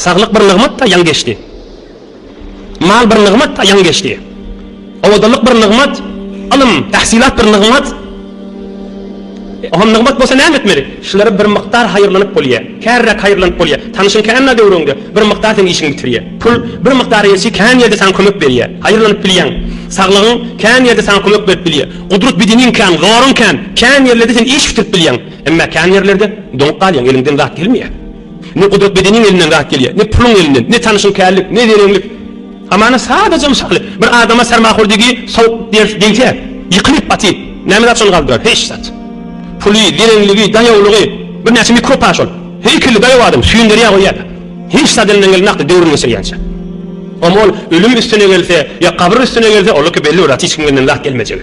Saglyk bir nygmat, a ýaň geçdi. Mal bir nygmat, a ýaň geçdi. Owadanlyk bir nygmat, ylym, tahsylat bir nygmat. Oňa nygmat bolsa näme etmeli? Şulara bir mukdar haýyrlanyp bolýar. Kärräk haýyrlanyp bolýar. Tanyşyň känä döwrüňde bir mukdar seň işiňi bitirýär. Pul bir mukdar elçi kän ýerde saňa kömek berýär. Haýyrlanyp bilýäň. Saglygyň kän ýerde saňa kömek berip bilýär. Gudrat bedeniň kän, zoruň kän. Kän ýerlerde sen iş bitirip bilýäň. Emma kän ýerlerde doňup galýaň, eliňden zat gelmeýär. Ne gudrat bedeniň elinden zat gelýär, ne puluň elinden, ne tanyşyň kärlik, ne zereňlik. Hamana sadaja mysaly, bir adama sermahurdigi sowuk ders degse, ýykylyp, batyp, näme zat şony galdyrar? Hiç zat. Puly, zereňligi, daýawlygy, birnäçe mikrob-a şol. Heýkelli daýaw adam süýnderýär goýýar-da. Hiç zat elinden gelmänokdy döwrüni geçirýänçä. Omal, ölüm üstüne gelse, ýa gabyr üstüne gelse, oldaki belli bir zat hiç kimden zat gelmejegi.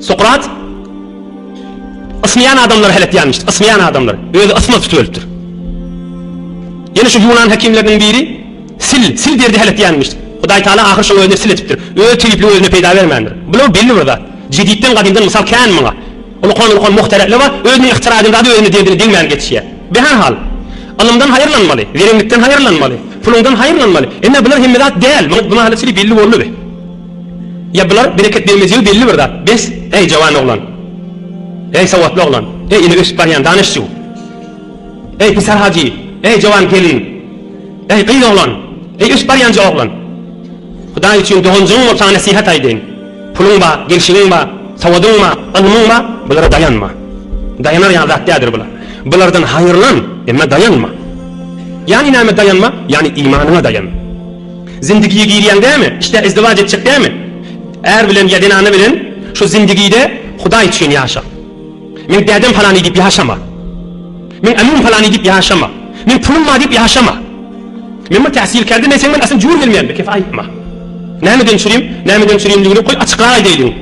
Sokrat ysmaýan adamlary hälekýänmişdi. Ysmaýan adamlar. Özi ysmaz tutup ölüpdir. Ýene şu ýunan hekimleriniň biri sil, sil derdi hälekýänmişdi. Hudaý Taala ahyr şoň özüne sil etipdir. Öz tebipligi özüne peýda bermändir. Bular belli bir zat. Jeditden gadymdan mysal kän muňa. Ulukan ulukan muhtereleba özüniň yhtira eden zady özüne derdine degmän geçýär. Behär hal. Ylymdan haýyrlanmaly. Zerenlikden haýyrlanmaly. Puluňdan haýyrlanmaly. Emme bular hemme zat däl. Muňa bu mahaly sili belli boldy. Ýa bular Bereket Begmezýew belli bir zat. Bes, äý jawan oglan. Äý sowatly oglan. Äý ine ösüp barýan danyşjyw. Äý Pisar Hajy. Äý jawan gelin. Äý gyz oglan. Äý ösüp barýanja oglan. Hudaý üçin doganjygyň bolsa nesihat aýdaýyn. Puluň ba, gelşigiň ba, sowadyň ba, ylmyň ba, bulara daýanma. Daýanar ýaly zat däldir bular. Bulardan haýyrlan, emma daýanma. Ýany näme daýanma, ýany imanyňa daýan. Zindigiýe girýäň dämi? Işdä izdiwaç etjek dämi? Är bilen ýa zenana bilen şu zindigide Hudaý üçin ýaşa. Meň dädem palany diýip ýaşama. Meň ämim palany diýip ýaşama. Meň pulum bar diýip ýaşama. Men bir täsilkärde men seň bilen aslynda jur gelmeýän bir kese aýtma. Nämeden çürim? Nämeden çürimligini goý açykrak aýdaýlyň.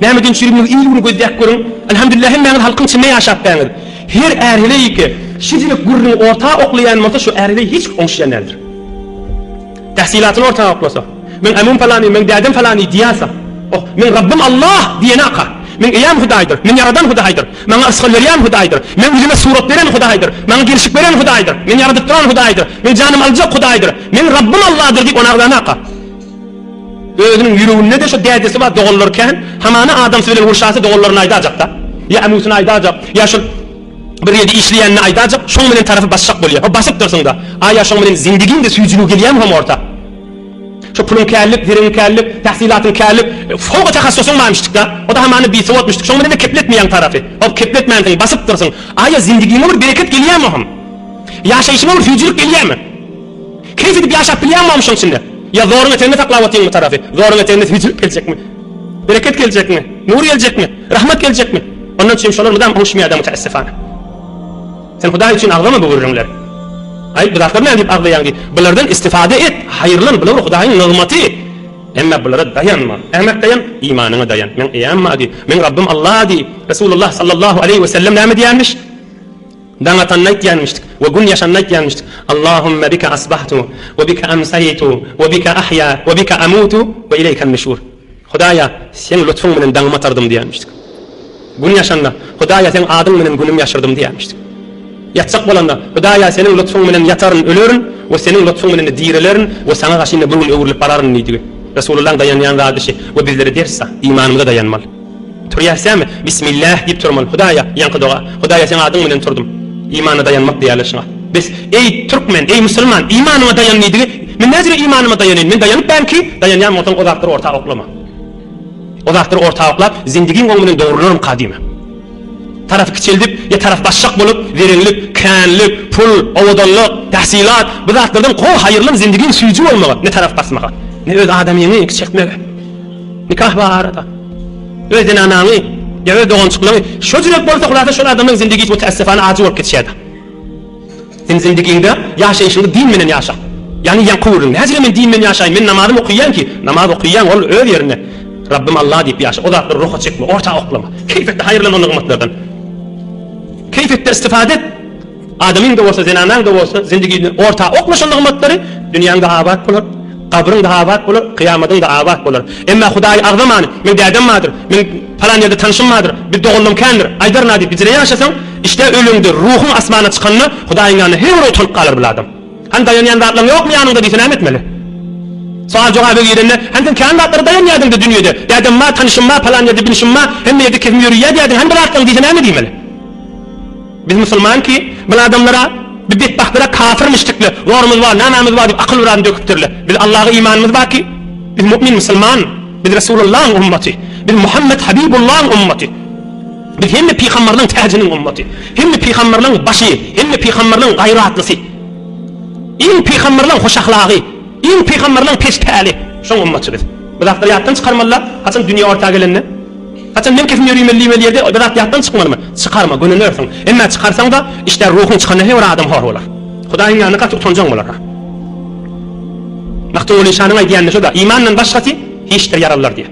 Nämeden çürimligi il bir gözläp görüň. Alhamdulillah hemmäňiz halkyň içinde ýaşapbäňiz. Her är heleýike şijilik gürrüňi orta oklaýan bolsa şu är heleý hiç oňşýan däldir. Tähsilatyny ortaga oklasa. Meň ämim palany, meň dädem palany diýýärse. Oh, meň Rabbym Allah! diýenaka. Meň eýäm Hudaýdyr. Meni ýaradan Hudaýdyr. Maňa yrsgal berýän Hudaýdyr. Meň ýüzüme surat beren Hudaýdyr. Maňa gelşik beren Hudaýdyr. Meni ýaradyp duran Hudaýdyr. Meň janymy aljak Hudaýdyr. Meň Rabbym Allahdyr diýip ony agzanaka. Özüniň ýüreginde-de şo dädesi bar, doganlary kän. Hamana adamsy bilen urşasy doganlaryna aýdajak-da. Ýa ämusyna aýdajak, ýa şol. Bir ýerde işleýänini aýdajak, şoň bilen tarapy basjak bolýa. Ho, basyp dursuň-da. A ýa şoň bilen zendigiň-de süýjüligi gelýämi hom orta? Şo puluň kärlik, zeriň kärlik, tahsylatyň kärlik, soňky tahassusyň barmyşdyk-da. O-da hamana bisowatmyşdyk. Şoň bilen-de kepletmeýäň tarapy. Ho, kepletmänsiň, basyp dursuň. A ýa zendigiňe bir bereket gelýämi hom? Ýaşaýşyňa bir süýjülik gelýämi? Keýp edip ýaşap bilýäňmi hom şoň içinde? Ýa zoruň eteginde saklap otyňmy tarapy? Zoruň eteginde süýjülik geljekmi? Bereket geljekmi? Nur geljekmi? Rahmat geljekmi? Onda üçin şolar mydam oguşmaýar-da müteessifana. Sen Hudaý üçin agzama bu gürrüňleri. Aý, bu zatlar nädip agzaýaň diý. Bulardan istifade et, haýyrlan, bular Hudaýyň nygmaty. Emma bulara daýanma. Nämä daýan? Imanyňa daýan. Meň eýäm bar diý. Meň Rabbym Alla diý. Resulullah sallallahu aleýhi we sellem näme diýýänmiş? Daň atanda aýtýanmyşdyk we gün ýaşanda aýtýanmyşdyk, Allahümme bike asbahtu we bike amsaýtu we bike ahýa we bike amutu we ileýken nüşur. Hudaýa, Seň lutfuň bilen daňymy atardym diýýänmişdik. Gün ýaşanda, Hudaýa, Seň adyň bilen günümi ýaşyrdym diýýänmişdik. Ýatjak bolanda, Hudaýa, Seniň lutfuň bilen ýataryn, ölerin we Seniň lutfuň bilen-de dirilerin we Saňa gaşyna bir gün öwrülip bararyn diýdigi Resulyllaň daýanýan zady şi we bizlere ders-a, imanymyza daýanmaly. Turýarsämi? Bismillah diýip turmaly. Hudaýa, ýaňky doga. Hudaýa seň adyň bilen turdum. Imana daýanmak diýýärler şuňa. Bes, eý, türkmen, eý, musulman, imanyňa daýan diýdigi, men näjüre imanyma daýanyn, men daýanyp bärin ki, daýanýan bolsaň ozakdyr orta oklama. Ozakdyr orta oklap, zendigiň oň bilen dogrularamka diýme. Tarapy kiçeldip, ýa tarap başjak bolup, zerenlik, känlik, pul, owadanlyk, tahsylat, bu zatlardan gowy, haýyrlan zendigiň süýji bolmaga, ne tarap basmaga, ne öz adamyňy kiçeltmege. Nikah barada öz zenanaňy ýa öz dogançyklaňy şo jüret bolsa hulasa şol adamlaň zindigi hiç tässefana ajy bolup geçýärdi. Sen zindigiňde ýaşaýşyňy din menen ýaşa. Ýagny ýaňky gürrüň nähili men din bilen ýaşaýyn men namazymy okyýan ki namaz okyýaň ol öz ýerinde Rabbym Allah diýip ýaşa o zatlary ruha çekme orta oklama keýp etde haýyrlan onda gymmatlardan keýp etde istifade et Adamyň-da bolsa, zenanaň-da bolsa zindigine orta oklaşan nygmatlary, dünýäň-de abat bolar, gabryň-da abat bolar, kyýamadyň-da abat bolar. Emma Hudaýy agzaman, Meň dädem bardyr, meň palan ýerde tanşym bardyr, bir doganlam kändir, aýdaryn a diýip bijire ýaşasaň, işdä öleňde, ruhuň asmana çykanda, Hudaýyň ýanynda her bir utanyp galar bir adam. Hany daýanýan zatlaň ýokmy ýanyňda diýse näme etmeli? Sowal-jogaby girende, Hany sen kän zatlara daýanýardyň-da dünýede, dädem bar, tanşym bar, palan ýerde binşim bar, hemme ýerde kefim ýöreýär diýýärdiň, hany bir zatlaň diýse näme diýmeli? Biz musulman ki, bil adamlara bi betbagtlara kafirmiş dikle, zorumyz bar, namamyz bar dip akyl biran döküpdirle. Biz Allaga imanymyz bar ki, biz mu'min musulman, biz Resulullahyň ummaty, biz Muhammet Habibullahyň ummaty, biz hemme pygambarlaryň täjiniň ummaty, hemme pygambarlaryň başy, hemme pygambarlaryň gaýratlysy, iň pygambarlaryň hoş ahlagy, iň pygambarlaryň pes päli, şoň ummaty biz. Bu zatlary ýatdan çykarmalyda, haçan dünýä orta gelende. Haçan men kesin ýörüme liweli ýerde bir zat ýatdan çykmalymy? Çykarma, gönenersiň. Emmä çykarsaň-da, işdä ruhuň çykanda he bir adam hor bolar. Hudaýyň ýanynda gaty utanjaň bolar-a. Magtymguly şanyň aýdýanyny şo-da, Imandan başgasy, hiçdir ýaralylar diýýär.